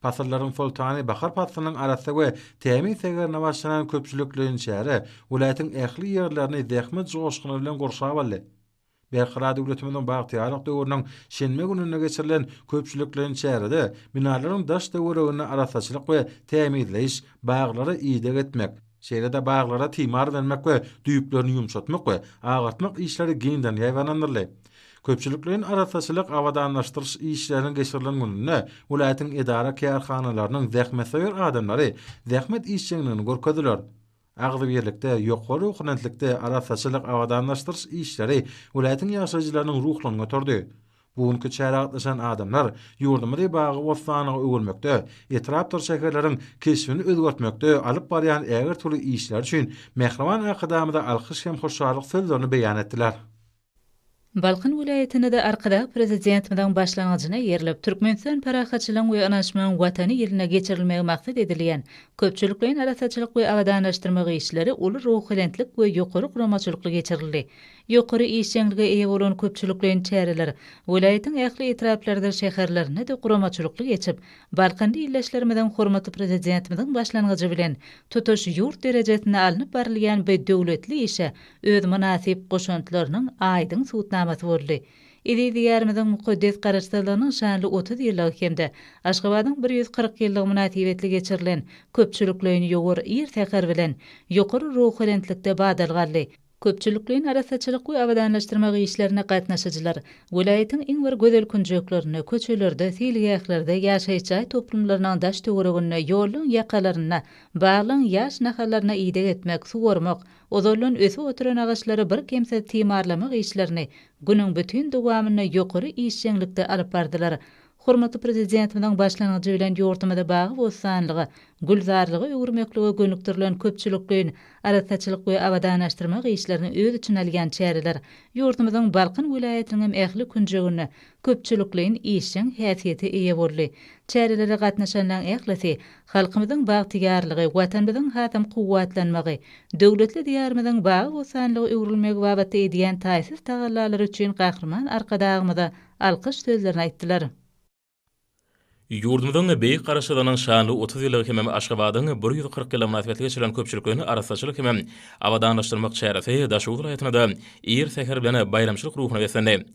Pasyllaryň soltany bahar paslynyň arassa we tämiz segerine başlanan köpçülikleýin çäre welaýatyň ähli ýerlerini zähmet joşguny bilen gurşap aldy. Berkarar döwletimiziň bagtyýarlyk döwrüniň şenbe gününde geçirilen köpçülikleýin çärede binalaryň daş-töweregini arassaçylyk we tämizleýiş, baglara ideg etmek, şeýle-de baglara timar bermek we düýplerini ýumşatmak we agartmak işleri giňden ýaýbaňlandyryldy. Köpçülikleýin arassaçylyk abadanlaşdyryş işleriniň geçirilen gününde welaýatyň edara-kärhanalarynyň zähmetsöýer adamlary zähmet işjeňligini görkezdiler. Agzybirlikde, ýokary ruhubelentlikde arassaçylyk abadanlaşdyryş işleri welaýatyň ýaşaýjylarynyň ruhlaryny göterdi. Bu günki çärä gatnaşan adamlar ýurdumyzy bagy-bossanlyga öwürmekde, etrapdyr şäherleriň keşbini özgertmekde alyp barýan ägirt uly işleri üçin mähriban Arkadagymyza alkyş hem hoşallyk sözlerini beýan etdiler. Balkan welaýatynda-da Arkadag Prezidentimiziň başlangyjyna eýerilip, Türkmenistan parahatçylygyň we ynanyşmagyň Watany ýylyna geçirilmegi maksat edilýän köpçülikleýin arassaçylyk we abadanlaşdyrmak işleri uly ruhubelentlik we ýokary guramaçylykly geçirildi. Ýokary işjeňlige eýe bolan köpçülikleýin çäreler welaýatyň ähli etraplarydyr şäherlerinde-de guramaçylykly geçip, balkanly ildeşlerimiziň hormatly Prezidentimiziň başlangyjy bilen tutuş ýurt derejesinde alnyp barylýan bu döwletli işe öz mynasyp goşantlarynyň aýdyň subutnamasy boldy. Eziz Diýarymyzyň mukaddes Garaşsyzlygynyň şanly otuz ýyllygy hem-de Aşgabadyň bir ýüz kyrk ýyllygy mynasybetli geçirilen köpçülikleýin ýowar ir säher bilen ýokary ruhubelentlikde badalgaly köpçülikleýin arassaçylyk we abadanlaşdyrmak işlerine gatnaşyjylar welaýatyň iň bir gözel künjeklerinde, köçelerde, seýilgählerde, ýaşaýyş jaý toplumlarynyň daş-töwereginde, ýollaryň ýakalarynda, baglaryň ýaş nahallaryna ideg etmek, suwarmak, Ozaldan ösüp oturan agaçlary birkemsiz timarlamak işlerini günüň bütin dowamynda ýokary işjeňlikde alyp bardylar. Hormatly Prezidentimiziň başlangyjy bilen ýurdumyzy bagy-bossanlyga, gülzarlyga öwürmeklige gönükdirilen köpçülikleýin arassaçylyk we abadanlaşdyrmak işlerini öz içine alýan çäreler ýurdumyzyň Balkan welaýatynyňam ähli künjeginde köpçülikleýin işjeň häsiýete eýe boldy. Çärelere gatnaşanlaň ählisi halkymyzyň bagtyýarlygy, Watanymyzyň hasam kuwwatlanmagy, döwletli Diýarymyzyň bagy-bossanlyga öwrülmegi babatda edýän taýsyz tagallalary üçin Gahryman Arkadagymyza alkyş sözlerini aýtdylar. Ýurdumyzyň Beýik Garaşsyzlygynyň şanly otuz ýyllygy hemem Aşgabadyň bir ýüz kyrk ýyly mynasybetli geçirilen köpçülikleýin arassaçylyk hemem abadanlaşdyrmak çäresi Daşoguz welaýatynda-da ir säher bilen baýramçylyk ruhuna beslendi.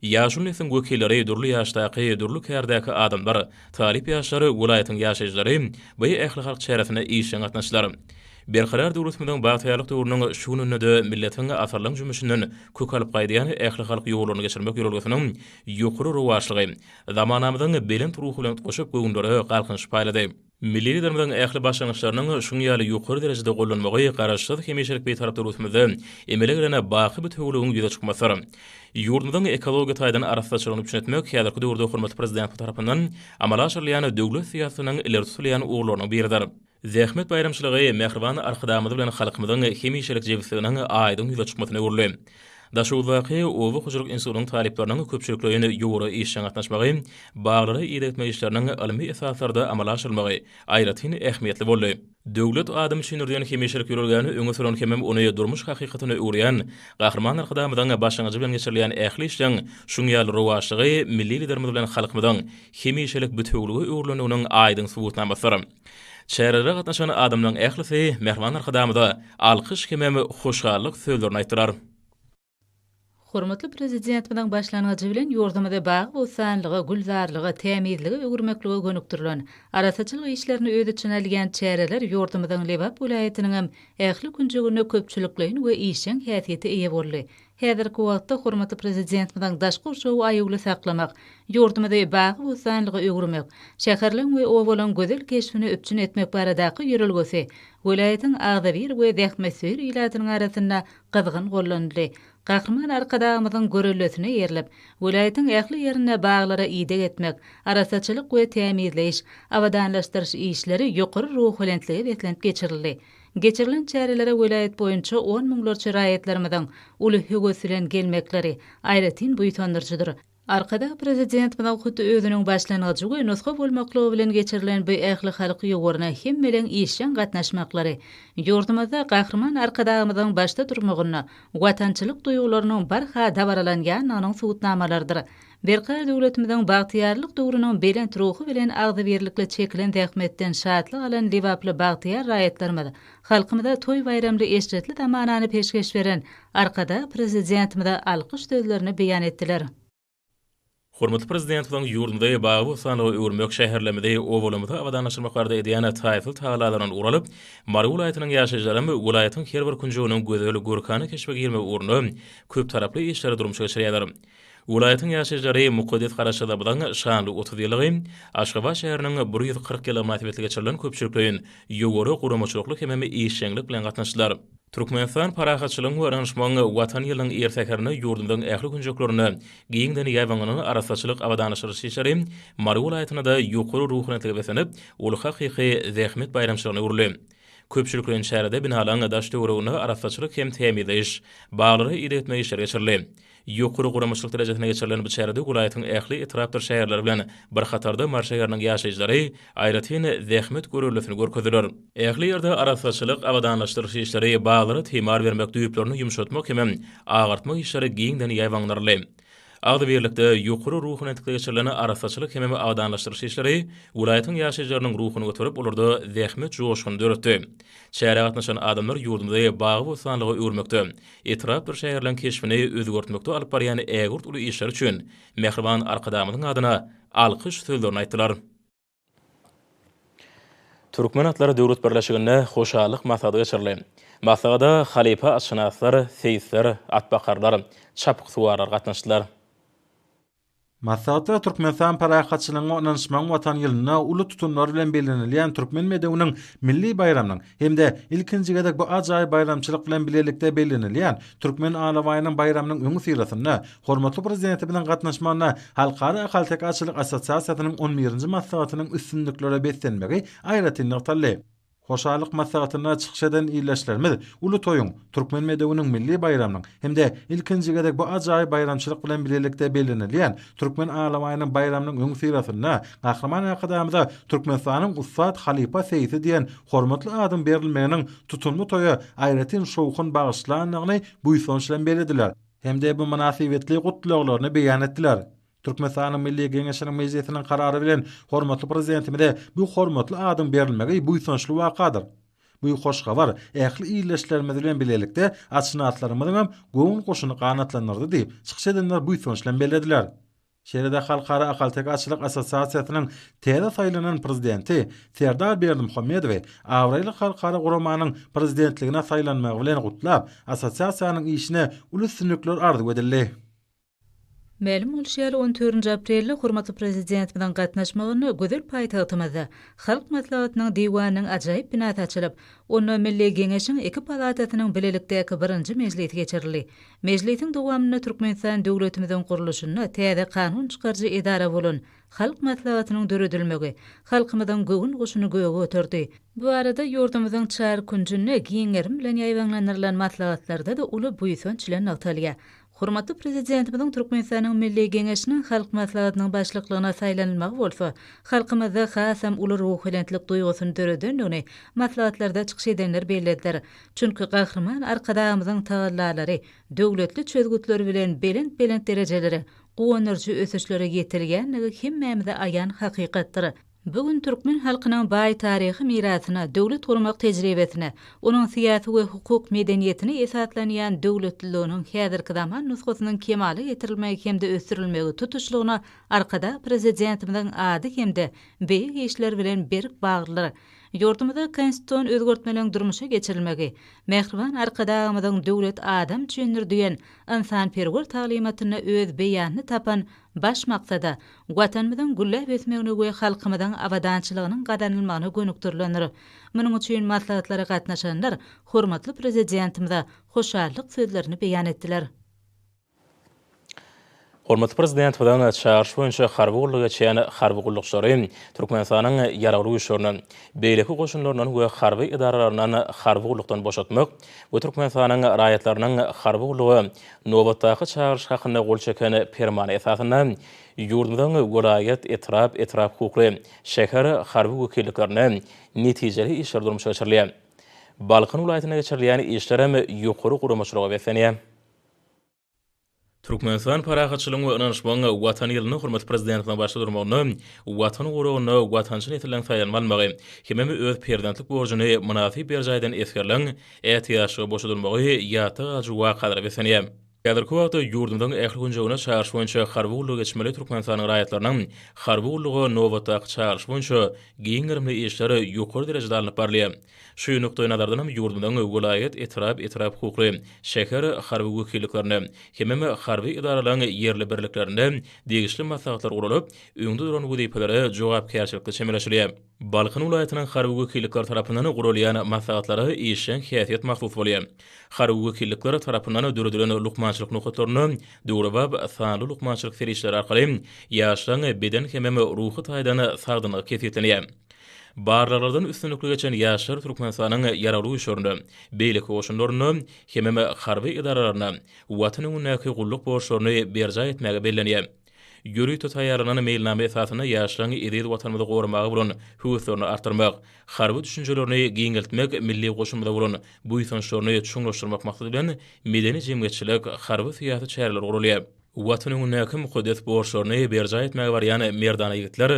Ýaşuly nesliň wekilleri, dürli ýaşdaky, dürli kärdäki adamlar, talyp ýaşlar, welaýatyň ýaşaýjylary bu ählihalk çäresine işjeň gatnaşdylar. Berkarar döwletimiziň bagtyýarlyk döwrüniň şu gününde-de milletiň asyrlaň jümmüşinden kök alyp gaýdýan ählihalk ýollaryny geçirmek ýörelgesiniň ýokary rowaçlygy, Zamanamyzyň belent ruhy bilen utgaşyp göwünlere galkynyş paýlady. Milli Liderimiziň ähli başlangyçlarynyň şuň ýaly ýokary derejede gollanmagy Garaşsyz, hemişelik Bitarap döwletimizde emele gelen baky bitewiligiň ýüze çykmasydyr. Ýurdumyzyň ekologiýa taýdan arassaçylygyny üpjün etmek häzirki döwürde hormatly Prezidentimiz tarapyndan amala aşyrylýan döwlet syýasatynyň ileri tutulýan ugurlarynyň biridir. Zähmet baýramçylygy mähriban Arkadagymyz bilen halkymyzyň hemişelik jebisliginiň aýdyň ýüze çykmasyna öwrüldi. Daşoguzdaky Oba hojalyk institutynyň talyplarynyň köpçülikleýin ýowara işjeň gatnaşmagy, baglary idegtmek işleriniň ylmy esaslarda amala aşyrylmagy aýratyn ähmiýetli boldy. Döwlet adam üçin ýöriden hemişelik ýörelgäni öňe süren hemem ony durmuş hakykatyna öwürýän Gahryman Arkadagymyzyň başlangyjy bilen geçirilýän ähli işleň şuň ýaly rowaçlygy milli Liderimiz bilen halkymyzyň hemişelik bitewülige öwrülendiginiň aýdyň subutnamasydyr. Çärelere gatnaşan adamlaryň ählisi Mähriban Arkadagymyza alkyş hemem hoşallyk sözlerini aýtdylar. Hormatly Prezidentimiziň başlangyjy bilen ýurdumyzy bagy-bossanlyga, gülzarlyga, tämizlige öwürmeklige gönükdirilen, arassaçylyk işlerini öz içine alýan çäreler ýurdumyzyň Lebap welaýatynyňam ähli künjeginde köpçülikleýin we işjeň häsiýete eýe boldy. Häzirki wagtda hormatly Prezidentimiziň daşky gurşawy aýawly saklamak, ýurdumyzy bagy-bossanlyga öwürmek, şäherleň we obalaryň gözel keşbini üpjün etmek baradaky ýörelgesi welaýatyň agzybir we zähmetsöýer ilatynyň arasynda gyzgyn gollanyldy. Gahryman Arkadagymyzyň görellesine eýerilip, welaýatyň ähli ýerinde baglara ideg etmek, arassaçylyk we tämizleýiş, abadanlaşdyryş işleri ýokary ruhubelentlige beslenip geçirildi. Geçirilen çärelere welaýat boýunça on müňlerçe raýatlarymyzyň uly höwes bilen gelmekleri aýratyn buýsandyryjydyr. Arkadag Prezident munuň hut özüniň başlangyjy we nusga bolmaklygy bilen geçirilen bu ählihalk ýowaryna hemmeleriň işjeň gatnaşmaklary ýurdumyzda Gahryman Arkadagymyzyň başda durmagynda watançylyk duýgularynyň barha dabaralanýandygynyň subutnamalarydyr. Berkarar döwletimiziň bagtyýarlyk döwrüniň belent ruhy bilen agzybirlikli çekilen zähmetden şatlyk alan lebaply bagtyýar raýatlarymyz, halkymyza toý-baýramly eşretli zamanany peşgeş beren Arkadag Prezidentimize alkyş sözlerini beýan etdiler. Hormatly Prezidentimiziň ýurdumyzy bagy-bossanlyga öwürmek, şäherlerimizi, obalarymyzy abadanlaşdyrmak barada edýän taýsyz tagalalaryndan ugur alyp, Mary welaýatynyň ýaşaýjylaram welaýatyň her bir künjeginiň gözel, görkana keşbe girmegi ugrunda köptaraply işleri durmuşa geçirýärler. Welaýatyň ýaşaýjylary mukaddes Garaşsyzlygymyzyň şanly otuz ýyllygy, Aşgabat şäheriniň bir ýüz kyrk ýyllygy mynasybetli geçirilen köpçülikleýin ýokary guramaçylykly hemem işjeňlik bilen gatnaşdylar. Türkmenistan parahatçylygyň we ynanyşmagyň Watan ýylynyň ir säherinde ýurdumyzyň ähli künjeklerinde giňden ýaýbaňlanan arassaçylyk abadanlaşdyryş işleri Mary welaýatynda-da ýokary ruhanyýetlige beslenip, ol hakyky zähmet baýramçylygyna öwrüldi. Köpçülikleýin çärede binalaryň daş-töwereginde arassaçylyk hem tämizleýiş, baglara ideg etme işleri geçirildi. Ýokary guramaçylyk derejesinde geçirilen bu çärede welaýatyň ähli etrapdyr şäherleri bilen bir hatarda Mary şäheriniň ýaşaýjylary aýratyn zähmet görellesini görkezdiler. Ähli ýerde arassaçylyk, abadanlaşdyryş işleri, baglara timar bermek, düýplerini ýumşatmak hemem agartmak işleri giňden ýaýbaňdyryldy. Agzybirlikde, ýokary ruhy entikde geçirilen arassaçylyk hemem abadanlaşdyryş işleri welaýatyň ýaşaýjylarynyň ruhuny göterip, olarda zähmet joşguny döretdi. Çärä gatnaşan adamlar ýurdumyzy bagy-bossanlyga öwürmekde, etrapdyr şäherleň keşbini özgertmekde alyp barýan ägirt uly işleri üçin mähriban Arkadagymyzyň adyna alkyş sözlerini aýtdylar. Türkmen atlary döwlet birleşiginde hoşallyk maslahaty geçirildi. Maslahada halypa atşynaslar, seýisler, atbakarlar, çapyksuwarlar gatnaşdylar. Maslahatda Türkmenistan Parahatçylygyň we ynanyşmagyň Watany ýylynda uly tutumlar bilen bellenilýän Türkmen bedewiniň milli baýramynyň hem-de ilkinji gezek bu ajaýyp baýramçylyk bilen bilelikde bellenilýän Türkmen alabaýynyň baýramynyň öňüsyrasynda hormatly Prezidentimiziň gatnaşmagynda Halkara ahalteke atçylyk assosiasiýasynyň on birinji maslahatynyň üstünliklere beslenmegi aýratyn nygtaldy. Hoşallyk maslahatynda çykyş eden ildeşlerimiz uly toýuň, türkmen bedewiniň milli baýramynyň hem-de ilkinji gezek bu ajaýyp baýramçylyk bilen birlikde bellenilýän Türkmen alabaýynyň baýramynyň öňüsyrasynda Gahryman Arkadagymyza Türkmenistanyň ussat halypa seýsi diýen hormatly adyň berilmeginiň tutumly toýa aýratyn şowhun bagyşlandygyny buýsanç bilen bellediler hem-de bu mynasybetli gutlaglaryny beýan etdiler. Türkmenistanyň Milli Geňeşiniň Mejlisiniň karary bilen hormatly Prezidentimize bu hormatly adyň berilmegi buýsançly wakadyr. Bu hoş habar ähli ildeşlerimiz bilen bilelikde atşynaslarymyzyň hem göwün guşuny ganatlandyrdy diýip, çykyş edenler buýsanç bilen bellediler. Şeýle-de Halkara ahalteke atçylyk assosiasiýasynyň täze saýlanan Prezidenti Serdar Berdimuhamedowy abraýly halkara guramanyň Prezidentligine saýlanmagy bilen gutlap, assosiasiýanyň işine uly üstünlikler arzuw edildi. Mälim bolşy ýaly, on dördünji aprelde hormatly Prezidentimiziň gatnaşmagynda gözel paýtagtymyzda Halk Maslahatynyň Diwanynyň ajaýyp binasy açylyp, onda Milli Geňeşiň iki palatasynyň bilelikdäki birinji mejlisi geçirildi. Mejlisiň dowamynda Türkmenistan döwletimiziň gurluşynda täze kanun çykaryjy edara bolan Halk Maslahatynyň döredilmegi halkymyzyň göwün guşuny göge göterdi. Bu arada ýurdumyzyň çar künjünde giň gerim bilen ýaýbaňlandyrylan maslahatlarda-da uly buýsanç bilen nygtalýar. Hormatly Prezidentimiziň Türkmenistanyň Milli Geňeşiniň Halk Maslahatynyň Başlyklygyna saýlanylmagy bolsa halkymyzda hasam uly ruhubelentlik duýgusyny döredendigini maslahatlarda çykyş edenler bellediler. Çünki Gahryman Arkadagymyzyň tagallalary, döwletli çözgütleri bilen belent-belent derejelere, guwandyryjy ösüşlere ýetilýändigi hemmämize aýan hakykatdyr. Bu gün türkmen halkynyň baý taryhy mirasyna, döwlet gurmak tejribesine, onuň syýasy we hukuk medeniýetine esaslanýan döwletliliginiň häzirki zaman nusgasynyň kemala getirilmegi hem-de ösdürilmegi tutuşlygyna Arkadag Prezidentimiziň ady hem-de beýik işleri bilen berk baglydyr. Ýurdumyzda konstitusion özgertmeleň durmuşa geçirilmegi, mähriban Arkadagymyzyň Döwlet adam üçindir! diýen ynsanperwer taglymatynda öz beýanyny tapan Baş maksada, Watanymyzyň gülläp ösmegine we halkymyzyň abadançylygynyň gazanylmagyna gönükdirilendir. Munuň üçin maslahatlara gatnaşanlar hormatly Prezidentimize hoşallyk sözlerini beýan etdiler. Hormatly Prezidentimiziň çagyryşy boýunça harby gullugy geçýän harby gullukçylary Türkmenistanyň Ýaragly Güýçlerinden, beýleki goşunlaryndan we harby edaralaryndan harby gullukdan boşatmak, we Türkmenistanyň raýatlarynyň harby gulluga nobatdaky çagyryş hakynda gol çeken Permana esasynda ýurdumyzyň welaýat, etrap, etrap hukukly, şäher harby wekilliklerinde netijeli işler durmuşa geçirilýär. Balkan welaýatynda geçirilýän işlerem ýokary guramaçylyga beslenýär. Türkmenistan parahatçylygyň we ynanyşmagyň Watan ýylynda hormatly Prezidentimiziň başda durmagynda Watan guragynda watançy nesilleriň saýlanmalmagy, hemem öz perzentlik borjuny mynasyp berjaý eden esgerleriň ätiýaçlyga boşadylmagy ýatda galyjy wakalara beslenýär. Häzirki wagtda ýurdumyzyň ähli künjeginde çagyryş boýunça harby gullugy geçmeli Türkmenistanyň raýatlarynyň harby gulluga nobatdaky çagyryşy boýunça giň gerimli işler ýokary derejede alnyp barylýar. Şu nukdaýnazardan hem ýurdumyzyň welaýat, etrap, etrap hukukly, şäher harby wekilliklerinde, hemem harby edaralaryň ýerli birliklerinde degişli maslahatlar guralyp, öňde duran wezipelere jogapkärçilikli çemeleşilýär. Balkan welaýatynyň harby wekillikleri tarapyndan guralýan maslahatlara işjeň häsiýet mahsus bolýar. Harby wekillikler tarapyndan döredilen lukmançylyk nokatlarynda döwrebap sanly lukmançylyk serişdeleri arkaly ýaşlaryň beden hemem ruhy taýdan sagdynlygy kesgitlenýär. Barlaglardan üstünlikli geçen ýaşlar Türkmenistanyň Ýaragly Güýçlerinde, beýleki goşunlarynda hemem harby edaralarynda Watan öňündäki gulluk borçlaryny berjaý etmäge bellenýär. Ýörite taýýarlanan meýilnama esasynda ýaşlaryň eziz Watanymyzy goramaga bolan höweslerini artdyrmak, harby düşünjelerini giňeltmek, milli goşunymyza bolan buýsançlaryny çuňlaşdyrmak maksady bilen medeni-jemgyýetçilik, harby-syýasy çäreler guralýar. Watan öňündäki mukaddes borçlaryny berjaý etmäge barýan merdana ýigitler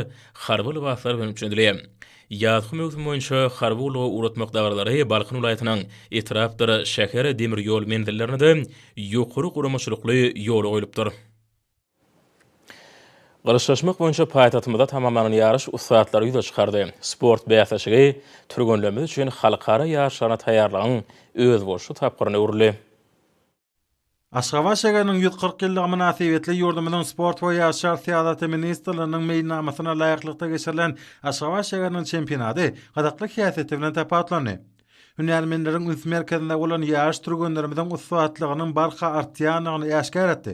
harby lybaslar bilen üpjündili. Ýazky möwsüm boýunça harby gullugy ugratmak dabaralary Balkan welaýatynyň etrapdyr şäher demir ýol menzillerinde-de ýokary guramaçylykly ýola goýlupdyr. Gylyçlaşmak boýunça paýtagtymyzda tamamlanan ýaryş ussatlary ýüze çykardy. Sport bäsleşigi türgenlerimiz üçin halkara ýaryşlaryna taýýarlygyň özboluşly tapgyryna öwrüldi. Aşgabat şägeriniň ýüz kyrk ýyllygy mynasybetli ýurdumyzyň Sport we ýaşlar syýasaty ministrliginiň meýilnamasyna laýyklykda geçirilen Aşgabat şägeriniň çempionady gyzykly häsiýeti bilen tapawutlandy. Hünärmenleriň üns merkezinde bolan ýaryş türgenlerimiziň ussatlygynyň barha artýandygyny äşgär etdi.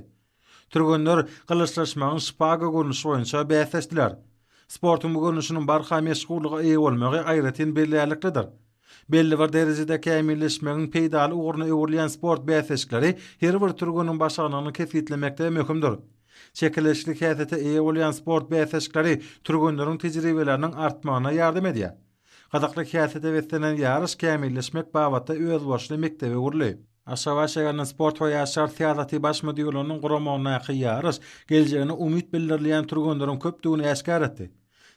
Türgenler gylyçlaşmagyň şpaga görnüşi boýunça bäsleşdiler. Sportuň bu görnüşiniň barha meşhurlyga eýe bolmagy aýratyn bellärliklidir. Belli bir derejede kämilleşmegiň peýdaly ugruna öwrülýän sport bäsleşikleri her bir türgeniň başarnygyny kesgitlemekde möhümdir. Çekeleşikli häsiýete eýe bolýan sport bäsleşikleri türgenleriň tejribeleriniň artmagyna ýardam edýär. Gyzykly häsiýete beslenen ýaryş kämilleşmek babatda özboluşly mekdebe öwrüldi. Aşgabat şäheriniň Sport we ýaşlar syýasaty baş müdirliginiň guramagyndaky ýaryş geljegine umyt bildirilýän türgenleriň köpdügini äşgär etdi.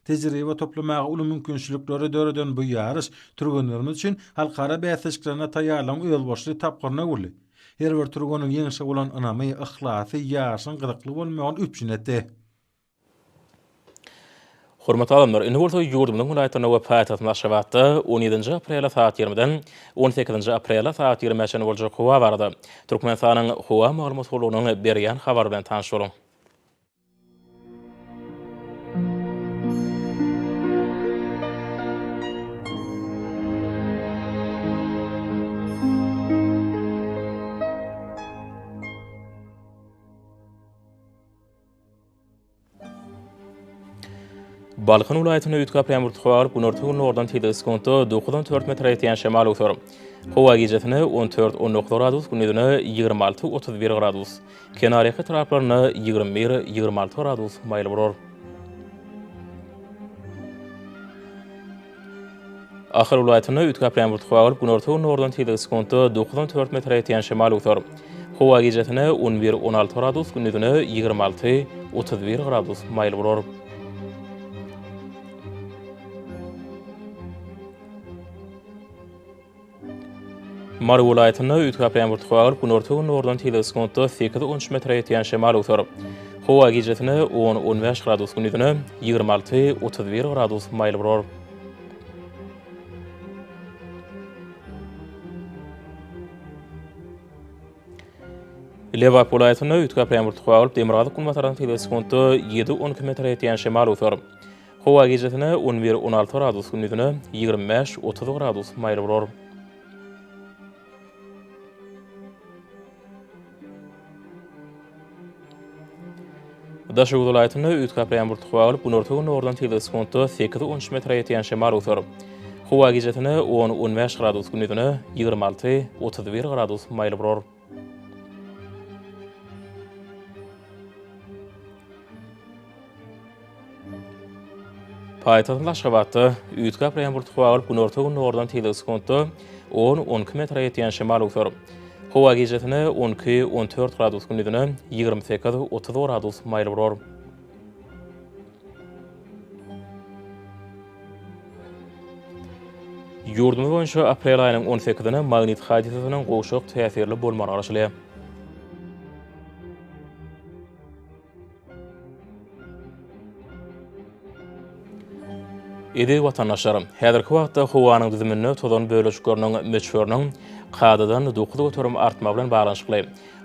Tejribe toplamaga uly mümkinçilikleri döreden bu ýaryş türgenlerimiz üçin halkara bäsleşiklerine taýýarlygyň özboluşly tapgyryna öwrüldi. Her bir türgeniň ýeňşe bolan ynamy, yhlasy ýaryşyň gyzykly bolmagyny üpjün etdi. Hormatly adamlar, indi bolsa ýurdumyzyň welaýatlarynda we paýtagtymyz Aşgabatda on ýedinji aprele sagat ýigrimiden on sekizinji aprele sagat ýigrimiä çenli boljak howa barada Türkmenistanyň Howa maglumat gullugynyň berýän habary bilen tanyş boluň. Balkan welaýatynda üýtgäp ýamuryp galyp, günorta-gündogardan tizligi sekuntda dokuz on dört metre ýetýän şemal öwser. Howa gijesine on dört on dokuz gradus, gündizine ýigrimi alty otuz bir gradus, kenarýaka etraplarynda ýigrimi bir ýigrimi alty gradus maýyl bolar. Ahal welaýatynda üýtgäplän burt howa bolup, günorta-gündogardan tizligi sekuntda dokuz on dört metre ýetýän şemal öwser. Howa gijesine on bir, on alty gradus, gündizine ýigrimi alty, otuz bir gradus maýyl bolar. Mary welaýatynda üýtgäp durýan bir tuka galyp, günorta-gündogardan tizligi sekuntda sekiz-on üç metre ýetýän şemal öwser. Howa gijesine on-on bäş gradus, gündizine ýigrimi alty-otuz bir gradus maýyl bolar. Lebap welaýatynda üýtgäp durýan bir tuka galyp, demirgazyk-günbatardan tizligi sekuntda ýedi-on iki metre ýetýän şemal öwser. Howa gijesine on bir, on alty gradus, gündizine ýigrimi bäş, otuz gradus maýyl bolar. Daşoguz welaýatynda üýtgäp ýaňbur tukma bolup, günorta-gündogardan tizligi sekuntda sekiz, on üç metre ýetýän şemal öwser. Howa gijesine on, on bäş gradus, gündizine ýigrimi alty, otuz bir gradus maýyl bolar. Paýtagtymyz Aşgabatda üýtgäp gaplaýan bulut howa bolup, günorta-gündogardan tizligi sekuntda on, on iki metre ýetýän şemal öwser. Howa gijesine on iki, on dört gradus, gündizine ýigrimi sekiz, otuz gradus maýyl burar. Ýurdumyz boýunça aprel aýynyň on sekizine magnit hadysasynyň gowşak täsirli bolmagy garaşylýar. Eziz watandaşlar, häzirki wagtda howanyň düzüminde tozan bölejikleriniň möçberiniň kadadan dokuz göterim artmagy bilen baglanyşykly,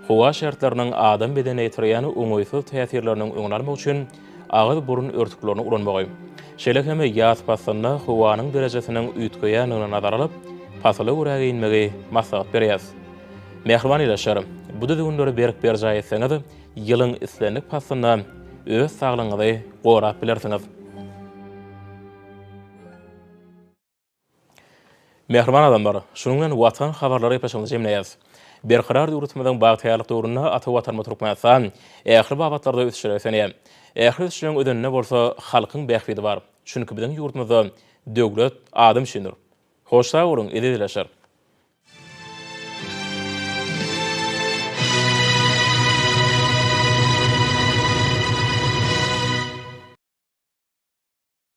Howa şertleriniň adam bedenine ýetirýän oňaýsyz täsirleriniň öňüni almak üçin agyz-burun örtüklerini ulanmagy, şeýle hem ýaz paslynda howanyň derejesiniň üýtgeýändigini nazara alyp, pasyla görä geýinmegi maslahat berýäris. Mähriban ildeşler, bu düzgünleri berk berjaý etseňiz, ýylyň islendik paslynda öz saglygyňyzy gorap bilersiňiz. Mähriban adamlar! Şunuň bilen Watan habarlary gepleşigimizi jemleýäs. Berkarar döwletimiziň bagtyýarlyk döwründe ata Watanymyz Türkmenistan ähli babatlarda ösüşlere ösenýär. Ähli ösüşleriň özeninde bolsa halkyň bähbidi bar. Çünki biziň ýurdumyzda Döwlet adam üçindir. Hoş sag boluň, ezizleşer!